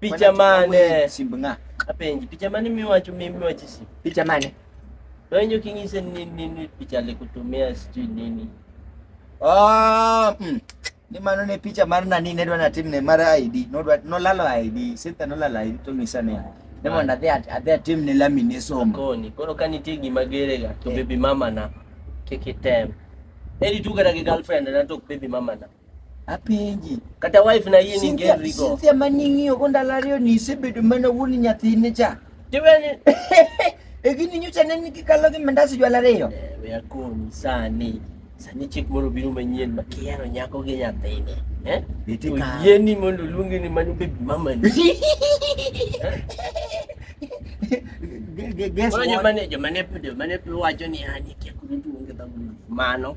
Picha mane? Simb ng'a? Apenji, picha mane miwacho mimi wachi simb? Picha mane? Donjo king'ise ni nini picha alikutumia sijui nini. Ah, mm. Ni mano ne picha mar nani ne dwa natim ne mar ID. No dwa no lalo ID. Sita no lalo ID to ng'isa ne. Ne mondo adhi at- adhi atim ne lami ne somo. Koni, koro ka nitie gima gerega to Eh. baby mama na kik item. Eri tu kata gi girlfriend na to ok baby mama na. apenji kata wife na yie ni ngeri go Cynthia maning'iyo go ndalo ariyo ni isebedo mana wuon nyathine cha tiweni e gini nyocha ne nigi kalo gi mandas jwala ariyo eh, we akoni sani sani chik moro biro manyien ma kihero nyako gi nyathine eh? oyieni mondo oluongi ni mano bebi mamani eh? jomane wacho ni ani ah, kiakurutuonge dhamano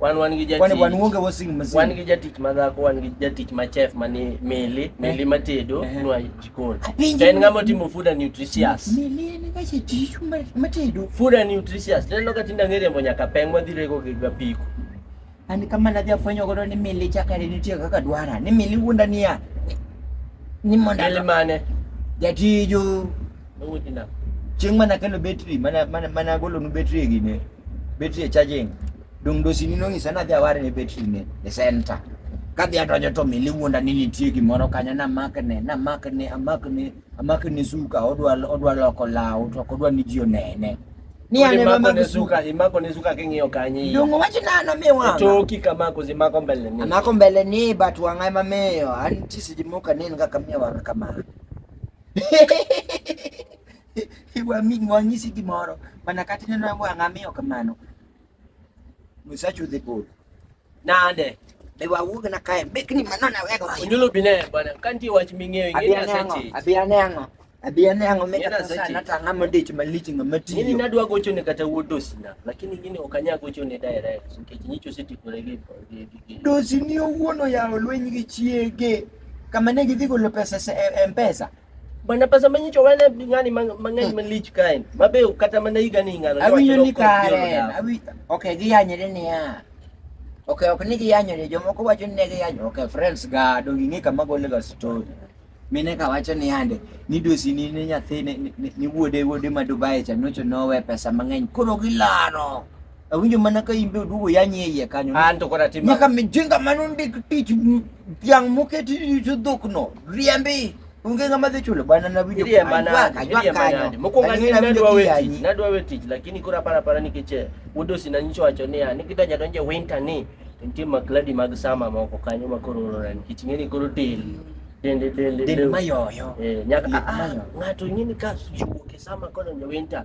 Wan wan gi jatich. Kwani wan uonge washing machine. Wan gi jatich ma dhako, wan gi jatich ma chef ma ni Mili, eh. Mili ma tedo eh. nwa jikon. En ng'ama timo food and nutritious. Mili en ga jatich ma tedo. Food and nutritious. Neno ka tinda ngere mbo nyaka peng ma dhirego gi ga piko. Ani kama na dhia fwenyo godo ni Mili chakare nitie kaka dwara. Ni Mili wuonda niya. Ni monda. Mili mane? Jatijo. Nowoji nang'. Chieng' mana kelo betri mana mana mana golo nu betri e gine. Betri e charging. Dong dosi ni nong'isa nadhi aware ne betri ne e center. Kadhi adonjo to mili wuonda ni nitie gimoro kanyo na makne na makne amakne amakne suka odwa odwa loko law to ok odwa ni ji onene. Ni ane mama Imako ne suka. suka, imako ne suka king'iyo kanye. Dong wacho nano mi wanga. Toki kamako zimako mbele ni. Amako mbele ni but wanga ema miyo. An tisi jimoka nini kaka miyo wanga kama. wanyisi gimoro mana kata ineno yangu ang'a miyo kamano musachu dhi bol nande be wawuog na kae bekni mano na wego onyulo bine bana kanti wach ming'eyo ing'eyo sachi abia ne ang'o abia ne ang'o meka sasa nata ang'a mondich malich ng'a matiyo nini nadwa gocho ne kata wuod dosina lakini gini ok anyal gocho ne direct nikech nyicho osetikore gi dosini owuon oyawo lweny gi chiege Kama ne gidhi golo pesa e Mpesa. Bana pesa manyicho wane ng'ani mang'eny malich kaen. Mabe kata mana higa ni ng'ano. Awinjo ni kare. Awi okay giyanyre niya. Okay, ok ni giyanyre jomoko wacho ni ne giyanyo. Okay, friends ga do ging'e kama gole ga story. Mine ka wacho ni ande ni dosi ni ne nyathi ni wuode wuode ma Dubai cha nocho nowe pesa mang'eny koro gilano. Awinjo mana ka imbe oduogo yanye iye kanyo. An to kora tim. Nyaka mijinga mano ndik tich dhiang' moketi rito dhokno. Riembi. Onge ng'ama dhi chulo bwana na video. Ndiye mana. Ajwa kanyo. Mokwongo ni nadwa we tich. Nadwa we tich lakini kora para para nikech eh, wudosi na nyicho wacho niya ni kidonja donje winter ni nitie makladi mag sama moko kanyo ma koro olora nikech ing'e ni koro del dende dende del mayoyo. Eh, nyaka ah, ah, ng'ato ing'e ni ka wuok e sama kodonjo winter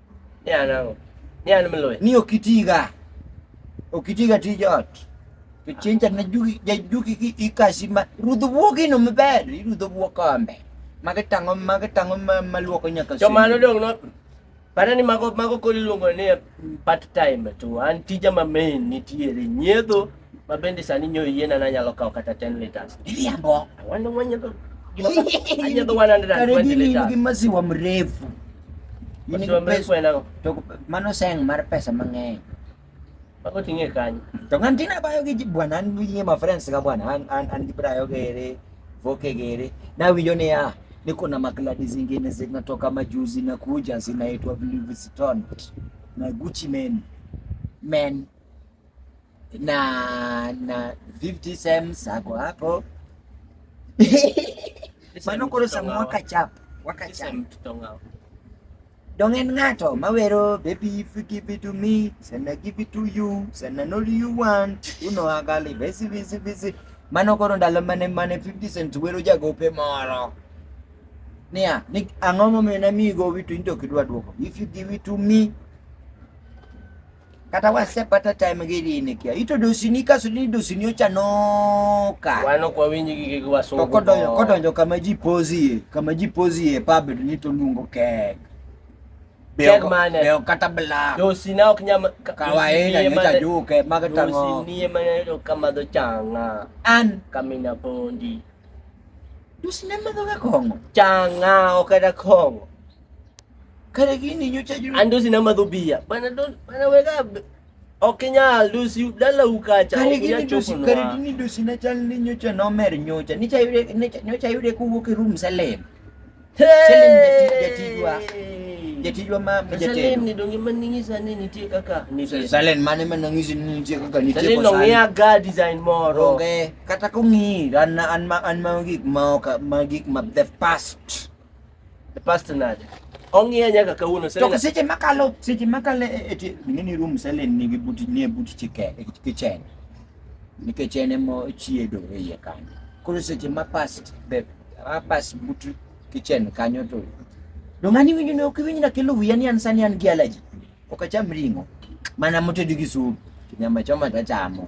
Ni an ang'o? Ni an mloya. Ni ok itiga. Ok itiga tij ot. To chieng' cha na jugi ja jugi ki ikasi ma rudh buogi no maber. Irudho buok kombe. Magi tang'o magi tang'o ma maluoko nyaka To mano dong' no Para ni mago mago koro iluongo ni part time to an tija ma main nitiere nyiedho Ma bende sani nyo yiena na nyalo kawo kata 10 liters. Iriambo. Wanda mwanyego gima anyego 120 liters. Gi maziwa mrefu. Maziwa mrefu enango. To mano seng mar pesa mang'eny. Bako ting'e kanyo. To ng'an tina bayo gi bwana an gi ma friends ga bwana an an an gi brayo gere voke gere na winjo ni ah niko na makladi zingine zinatoka majuzi na kuja zinaitwa Louis Vuitton na Gucci men men na na 50 cents ako hapo mano koro sama wakachap wakachap dongen ng'ato mawero baby if you give it to me sana give it to you sana not you want you know agali basi basi basi mano koro ndalo mane mane 50 cents wero jagope moro niya ni ang'o momiyo namiyi gowi to in to ok idwa dwoko if you give it to me kata wasepata time gi dini kia ito dosini kaso ni dosini ochanoka wano kwa winji gi gi wasungu kodonjo kodonjo kama ji pozie kama ji pozie pub ni to lungo kek kek mane beo kata bla dosina ok nyam kawaida ni ta juke maga tango dosini mane to kama do changa an kamina pondi dosina maga kongo changa okada kongo Kare gini nyocha juu. Andosi na madhubia. Bana don bana wega okinyal dosi dala ukacha. Kare gini dosi kare gini dosi na chal ni nyocha nomer nyocha. Nicha yude nyocha yude kuwuok e room Salem. Salem jatijwa. Jatijwa ma jatijwa. Salem ni donge maningisa ni nitie kaka nitie. Salem mane maningisa ni nitie kaka nitie. Salem no ng'ia ga design moro. Onge kata kong'i an an ma an ma gik ma ok ma gik ma the past. The past nade? Ong'iya nyaka kawuono sasa. To seche makalo seche makalo e, e, e nini room selen nigi buti nie buti chike e kitchen. Nikech en emo chiedo e iye kanyo. Koro seche ma past the past buti kitchen kanyo to. Do ngani winjo ne ok winjo na kelo wiya ni an sani an gi allergy. Ok acham ring'o. Mana motedi gi supu. Nyama choma tachamo.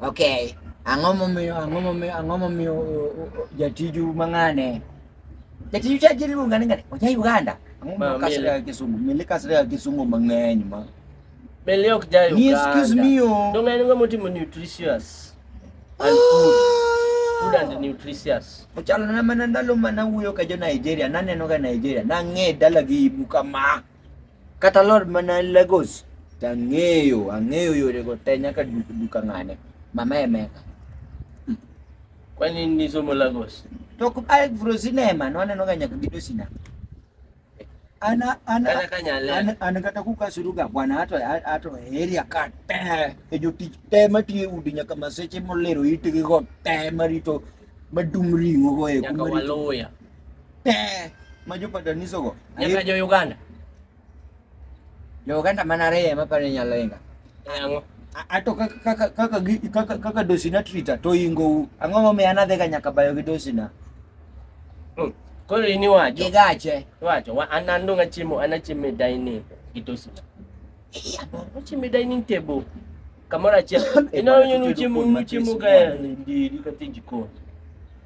Okay. Ang'o momiyo ang'o momiyo ang'o momiyo jatiju mang'ane? Jatiju cha jiri luonga ni ng'ane. Oja Uganda. Ang'o ma kasre ya Kisumu? Mili kasre ya Kisumu mang'eny ma. Mili ok ja Uganda. Ni excuse me yo. Oh. Donga ni ng'amo timo nutritious. And food. Food and nutritious. Ochalo na mana ndalo mana wuyo ka jo Nigeria. Naneno ga Nigeria. Nang'e dalagi ibu kama. Kata lor mana Lagos to ang'eyo, ang'eyo yorego te nyaka duka ng'ane. Mama Emeka. Kwani nisomo Lagos? To ae Vro Cinema nwaneno ga nyaka gido sina. An kata kukasuruga bwana ato ato area ka te e jotich te matiyo e udi nyaka maseche molero itgi go te marito madung' ring'o go e Pee. Majo pataniso go. Nyaka jo Uganda. Jo Uganda mana reye ma pare nyalo inga. Eh, ang'o? Ato kaka kaka kaka gi- kaka kaka dosina trita to ingo ang'o ma miya nadhi ga nyaka bayo gi dosina. Mm. Koro in iwacho. Gigache. Iwacho wa an an dong' achiemo an achiemo e dining gi tosina. Achiemo e dining table. Kamoro achiel. Ineno ni uchiemo uchiemo ka e ndiri kata e jikon.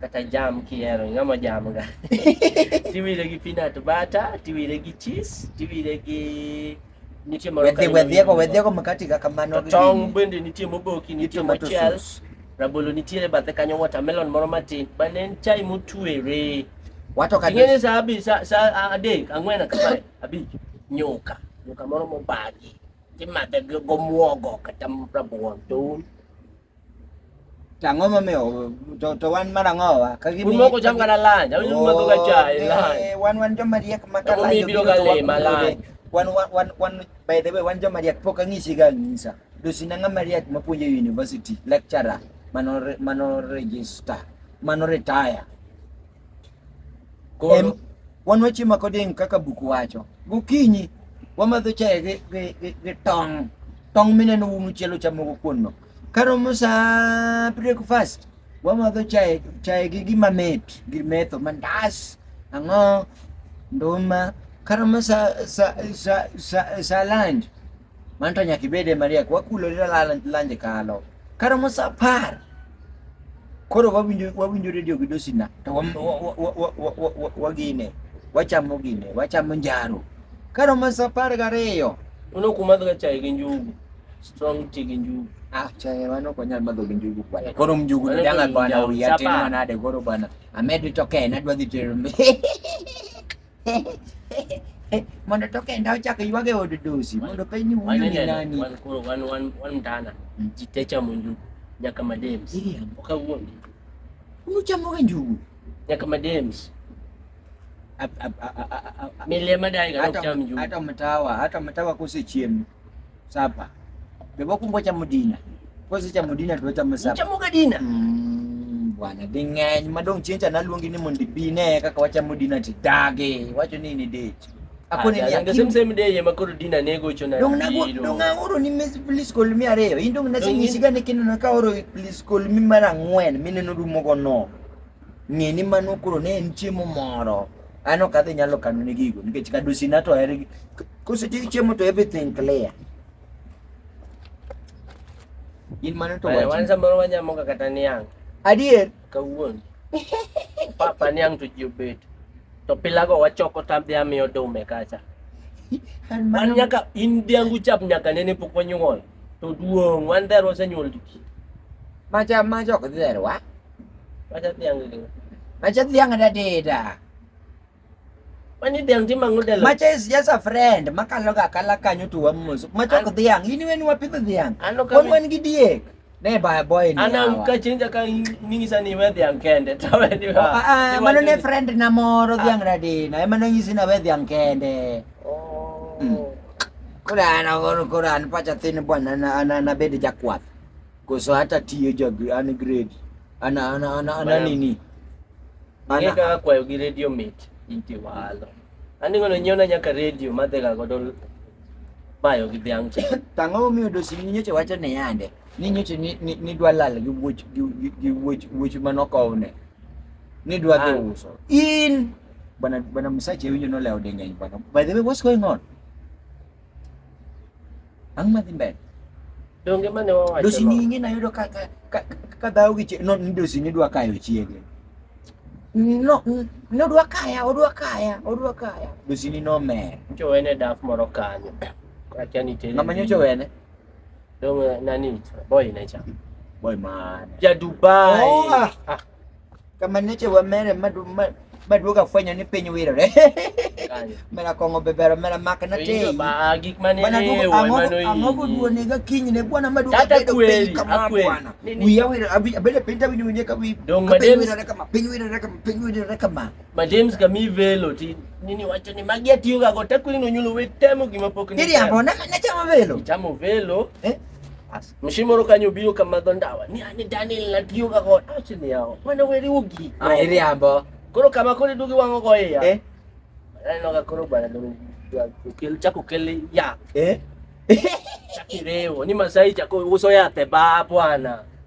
kata jam kihero ing'ama jam ga tiwire gi peanut butter tiwire gi cheese tiwire gi nitie moro wedhi wedhi ego wedhi ego makati ga kamano gi tong bende nitie moboki nitie mochiel rabolo nitiere bathe kanyo watermelon moro matin bane en chai motwere wato ka ngene sa abi sa sa adek ang'wen kata abi nyuka nyuka moro mobagi timadhe go muogo kata rabuon to Tang'o momiyo to to wan mar ang'o wa? Ka gimi. Un moko cham kana lanja, un oh, madho ga chai eh, lanja. Wan wan joma riek ma ka lanja. Biro ga le ma lanja. Wan wan wan wan by the way wan joma riek pok ang'isi ga ng'isa. Dosi na ng'ama riek ma puonjo university lecturer mano mano register mano retire Em, wan wachiemo koding kaka buk wacho gokinyi wamadho chae gi, gi, gi, gi tong tong mineno umu chielo chamogo kuonno karomo saa breakfast wamadho chae chae gi gima mit gi metho mandas ang'o nduma karomo sa, sa, sa, sa, sa lunch Mano to nyaka ibede mariek, wakulore lanje kalo. Karomo sa apar, koro wawinjo wawinjo redio gi dosina to wagine wachamo gine wachamo njaro karomo sa apar gariyo uno kumadhoga chai gi njugu strong tea gi njugu ah chai wan ok wanyal madho gi njugu kwana koro mnjugu ni danga bwana uyatimwa nade koro bwana amed to kena dwa dhi tero mondo to kenda ochak ywag e od dosi mondo peny ni wuyo ni nani wan koro wan wan wan mtana mm. ji te chamo njugu nyaka madems iriambo kawuono unuchamoga njugu nyaka madems milia madai ga cham njugu hata mtawa hata mtawa kose chiemo sapa bebo kumbo cha mudina kozi cha mudina to cha musapa cha mugadina mm, bwana dingeny madong chincha naluongi ni mondi bine kaka wacha mudina ti dage wacho ni ni dechi akone ni ndo same same day yema koro dina nego cho na dong nago dong aoro ni mes please call me areyo indong nase nyisiga ni kineno ka oro please call me mara ngwen mineno rumo go no Ng'e ni mano koro ne en chiemo moro. Ano kadhi nyalo kano ne gigo nikech kadusi na to hergi. Kose ti chiemo to everything clear. In mano to wacho. Wan samoro wanyamo kata niang'. Adier. Kawuono. Papa niang' to ji obet. To pilago wachoko tamdhi amiyo dume kacha. An nyaka in dhiangu chap nyaka nene pok wanyuol. To duong' wan dher wasenyuol to ji. Macha macha ok dher wa. Macha dhiang' gi. Macha dhiang' da deda. Mani dhiang' timo ang'o dela? Macha is just a friend makalo ga kala kanyo to wamoso. Macha ok dhiang' in wen wapidho dhiang'. Ano ka wan gi diek. Ne ba boy ni. Ana ka chinja ka ningisa ni we dhiang' kende to we ni. Ah, ah mano ne friend na moro dhiang' da dina. Emano nyisi na we dhiang' kende. Oh. Mm. Koro an aoro koro an pacha thin bwana na an an abed jakwath. Koso hata tiyo jo gr- an grade. An an an an Bwana. nini? Ang'e Ana kaka kwayo gi redio mit iti walo. Andingo no nyiewna nyaka redio madhiga godo bayo gi dhiang' cha. tang'o miyo dosi ni nyocha wacho ne yande. Ni nyocha ni ni- ni dwa lal gi wuoch gi gi- gi wuoch wuoch manokowne. Ni dwa dhi Ah. uso. In bwana bwana Msache winjo no leo denge bwana. By the way, what's going on? Ang madhi mbele. Donge mane wawacho. Dosi no? ni ing'e nayudo ka ka ka- ka dhawo gi chie- no ni dosi ni dwa kayo chiege. No, n- nodwa kaya, odwa kaya, odwa kaya. Dosi ni nomer. Nyocha wene daf moro kanyo. Akia ni tere. Ng'ama nyocha wene? Dong eh, nani? Boy nature. Boy man. Ya Dubai. Oh, ah. ah. Kama niche wa mere madu madu maduoga fwenyo ni piny wirore mera kong'o bebero mera mak na te ang'o koduonega kinyne bwana maduoga bedo piny kama bwana wiya wirore abedo piny tawinjo winje ka piny wirore kama piny wirore kama piny wirore kama Ma James ka mi velo ti nini wacho ni magi atiyo ga go te kwini no nyulo we temo gima pok ni. Iri ambo na na chamo velo. Chamo velo. Eh? As. Mshimoro kanyo biyo kama dhondawa. Ni ani Daniel na tiyo ga go. Achi ni yao. Wana weri ugi. Ah, iri ambo. Koro kama kore dugi wango go ya. Eh? Ano ga koro bana do. Kel chako kele ya. Eh? Chakireo. Ni masai chako uso ya te ba bwana.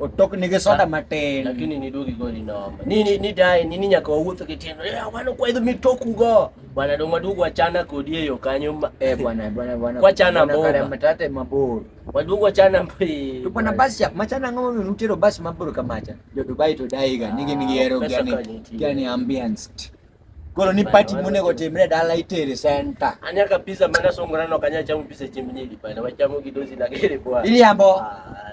Otok nige soda matin. Lakini ni dogi goli noma. Nini ni dai nini nyaka wawuotho gi tiendo. Ya eh, wano kwa idho mitoku go. Bwana dong waduogo wachana kodi e yo kanyo. Eh bwana bwana bwana. Kwa chana bo. Kare matate mabor. Waduogo wachana mpi. To bwana basi ya machana ngamo mutero basi mabor kamacha. Jo Dubai to dai ga nigi nigi hero ah, gani gani ambience. Koro ni party monego otimre dala itere center. Anya kabisa mana songorano kanya chamu pise chimnyili bana wachamo kidozi na kile kwa. Ili ambo. Ah,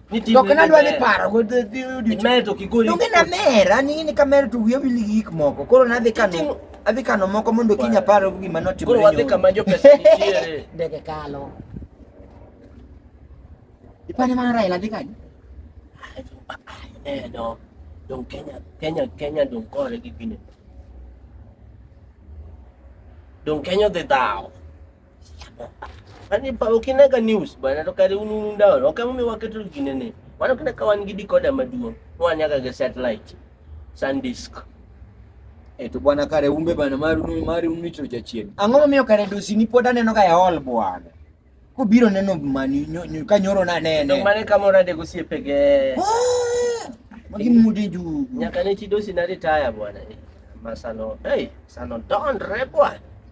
To kana dwa ni paro go the the mer to kigori. Donge na mer, an ing'e ni ka mer to wiye wil gi gik moko. Koro nadhi kano adhi kano moko mondo kiny apar go gima notimore. Koro wadhi kama jo pesa nitiere. Ndege kalo. Ipane mana Raila dhi kanye? Eh no. Dong Kenya, Kenya, Kenya dong kore gi gine. Dong Kenya dhi dhawo. Ani pa ukinaga news bana to kare unu ndawo ok emu miwaketo gine ne. Mano kina ka wan gi decoder maduong' wanyaga ga satellite sandisk. E to bwana kare umbe bana mar unu mar unu to jachien. Ang'o momiyo kare dosi ni pod aneno ga ya ol bwana. Kobiro neno mani ka nyoro na nene. To mane kamora de gosiepege. Ah! Magi mudi jugu. Nyaka ne chidosi na retire bwana. Masano, hey, sano don re bwana.